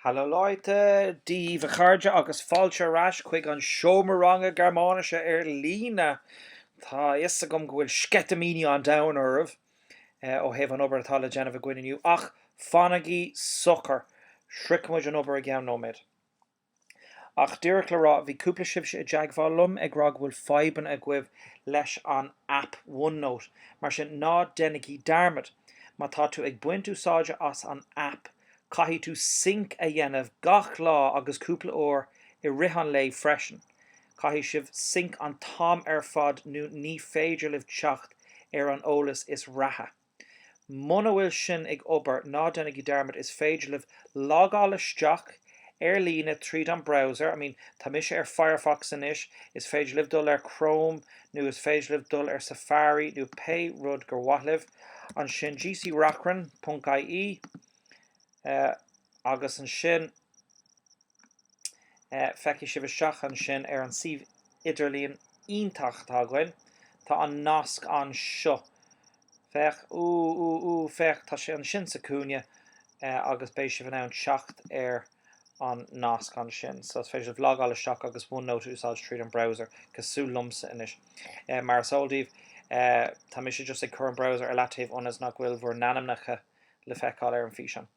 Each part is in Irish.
Hallo Leute, Dia daoibh a chairde agus fáilte ar ais chuig an seomra ranga Gearmáinise ar líne. Tá a fhios agam go bhfuil sceitimíní an domhain oraibh ó thaobh an obair atá le déanamh againn inniu ach fanaigí socair, sroichfimid an obair i gceann nóiméad. Ach díreach le rá, bhí cúpla sibhse i dteagmháil liom ag rá go bhfuil fadhbanna agaibh leis an aip OneNote, mar sin ná déanaigí dearmad! Má tá tú ag baint úsáide as an aip, caithfidh tú sync a dhéanamh gach lá agus cúpla uair i rith an lae freisin. Caithfidh sibh sync an t-am ar fad nó ní féidir libh teacht ar an eolas is reatha. Muna bhfuil sin ag obair, ná déanaigí dearmad, is féidir libh logáil isteach ar líne tríd an browser, I mean, tá mise ar Firefox anois, is féidir libh dul ar Chrome nó is féidir libh dul ar Safari nó pé rud gur mhaith libh. Ansin gc Reachrann, ponc-IE, agus ansin feicfidh sibh isteach ansin ar an suíomh idirlíon iontach atá againn. Tá an nasc anseo. Féach, ooh, ooh, ooh, féach, tá sé ansin sa chúinne agus beidh sibh in ann teacht ar an nasc ansin. So is féidir libh logáil isteach agus OneNote a úsáid tríd an browser, cosúil liomsa anois. Mar is eol daoibh, tá mise just ag cur an browser ar leataobh ionas nach bhfuil bhur n-ainmneacha le feiceáil ar an físeán.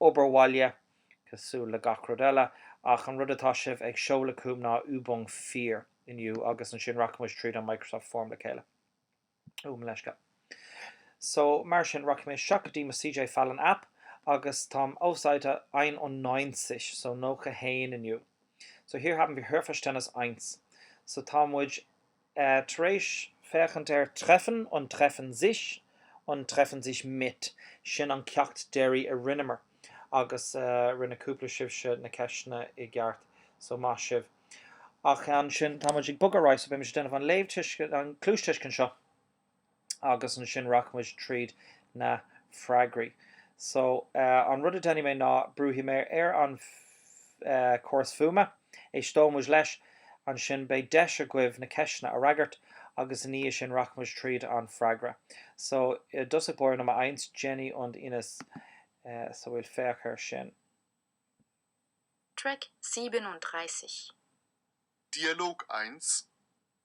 obair bhaile, cosúil le gach rud eile, ach an rud atá sibh ag seoladh chugam ná Übung 4 inniu agus ansin rachaidh muid tríd an Microsoft Form le chéile. Ú, mo leithscéal. So, mar sin, rachaidh mé isteach go dtí mo CJ Fallon app agus táim auf Seite 91, so 91 inniu. So, hier haben wir Hörverständnis 1. So, tá muid. tar éis féachaint ar treffen and treffen sich and treffen sich mit, sin an ceacht deiridh a rinneamar agus rinne cúpla sibhse na ceisteanna i gceart so maith sibh. Ach ansin tá muid ag bogadh ar aghaidh so beidh muid ag déanamh an léamhthuiscint, an cluastuiscint seo. agus ansin rachaimid tríd na freagraí. So, an rud a déanfaidh mé ná brúfaidh mé ar an chóras fuaime, éisteoidh muid leis, ansin beidh deis agaibh na ceisteanna a fhreagairt agus i ndiaidh sin rachaimid tríd an freagra. So, i dtosach báire Nummer eins Jenny und Ines so well féach air sin. Track 37. Dialog 1,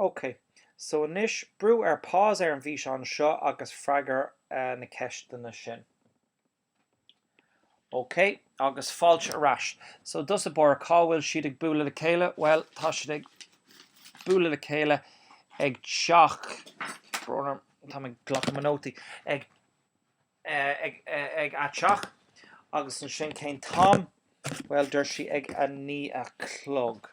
Ok, so anois brú ar pause ar an bhfíseán seo agus freagair na ceisteanna sin. Ok, agus fáilte ar ais. So does a bore cá bhfuil siad ag bualadh le chéile? Bhuel, tá siad ag bualadh le chéile ag teach, tá mé ag glacadh mo nótaí, ag ag a' teach agus ansin cén t-am? Bhuel, dúirt sí ag a naoi a chlog.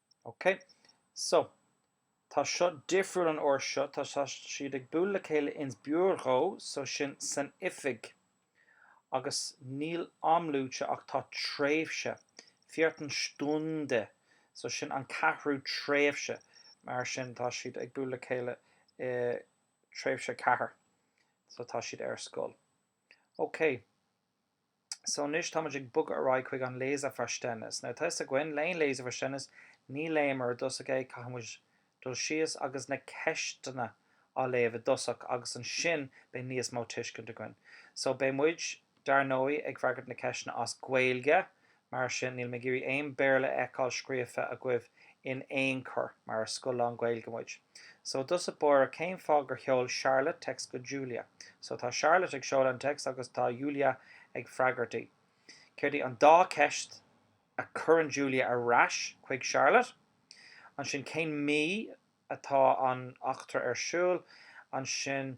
OK. So, tá seo difriúil an uair seo, tá siad ag bualadh le chéile ins Büro, so sin san oifig. Agus níl am luaite ach tá tréimhse, vierten Stunde, so sin an ceathrú tréimhse. Mar sin tá siad ag bualadh le chéile i tréimhse a ceathair, so tá siad ar scoil. OK. So anois táimid ag bogadh ar aghaidh chuig an Leseverständnis. Now tá 'fhios againn, le haon Leseverständnis, ní léimid i dtosach é, caithfidh muid dul síos agus na ceisteanna á léamh i dtosach agus ansin beidh níos mó tuiscint againn. So beidh muid, dar ndóigh, ag freagairt na ceisteanna as Gaeilge Mar sin, níl mé ag iarraidh aon Béarla a fheiceáil scríofa agaibh in aon chor, mar is scoil lán-Ghaeilge muid. So does it bore cén fáth gur sheol Charlotte text go Julia? So tá Charlotte ag seoladh an text agus tá Julia ag freagairt í. Céard í an dá cheist a chuireann Julia ar ais chuig Charlotte? Ansin cén mí atá an eachtra ar siúl? Ansin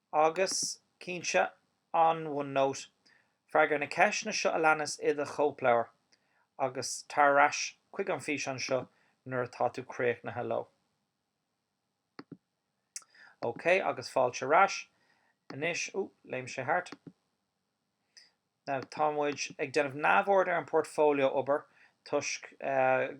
agus, cinnte, an OneNote. Freagair na ceisteanna seo a leanas i do chóipleabhar agus tar ar ais chuig an bhfíseán seo nuair atá tú críochnaithe leo. OK agus fáilte ar ais. Anois, ooh, léim sé thart. Now, tá muid ag déanamh neamhaird ar an portfolio obair toisc go.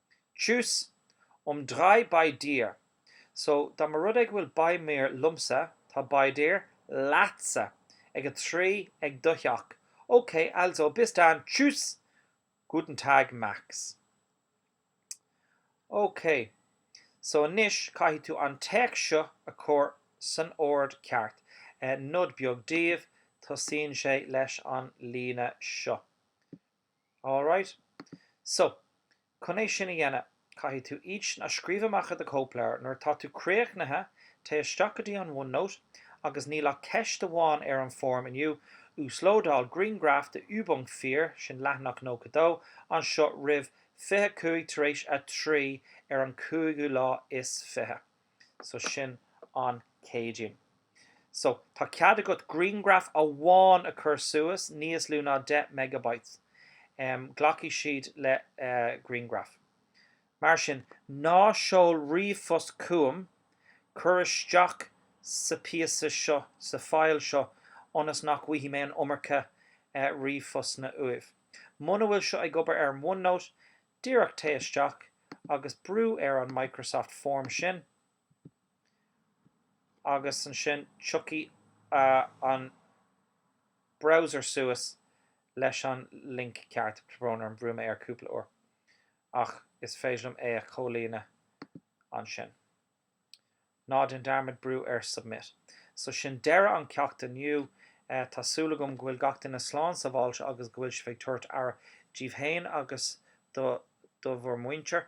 Tschüss, um drei bei dir, so dá mba rud é go bhfuil bei mir liomsa, tá bei dir leatsa, ag a trí, ag do theach, ok, also bis dann tschüss guten Tag Max. Ok, so anois caithfidh tú an téacs seo a chur san ord ceart, nod beag daoibh, tosaíonn sé leis an líne seo. All right. So, chun é sin a dhéanamh, caithfidh tú iad a scríobh amach i do chóipleabhar. Nuair atá tú críochnaithe, téigh isteach go dtí an OneNote agus níl ach ceist amháin ar an bhfoirm inniu, uaslódáil grianghraf de Übung 4, sin leathanach 92, anseo roimh 25 tar éis a 3 ar an cúigiú lá is fiche. So sin an Céadaoin. So tá cead agat grianghraf amháin a chur suas, níos lú ná 10 megabytes. Glacfaidh siad le grianghraf. Mar sin, ná seol ríomhphost chugam, cuir isteach sa píosa seo, sa file seo, ionas nach bhfaighidh mé an iomarca ríomhphostanna uaibh. Muna bhfuil seo ag obair ar an OneNote, Díreach téigh isteach agus brú ar an Microsoft Form sin agus ansin tiocfaidh an browser suas leis an link ceart. Tá brón orm, bhrú mé air cúpla uair ach is féidir liom é a chomhlíonadh ansin. Ná déan dearmad brú ar Submit. So sin deireadh an ceacht inniu. Tá súil agam go bhfuil gach duine slán sábháilte agus go bhfuil sibh ag tabhairt aire díbh féin agus do bhur muintir.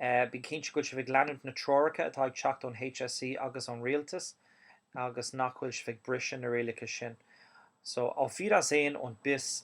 Bí cinnte go bhfuil sibh ag leanúint na treoracha atá ag teacht ón HSE agus ón rialtas agus nach bhfuil sibh ag briseadh na rialacha sin. So, auf Wiedersehen und bis.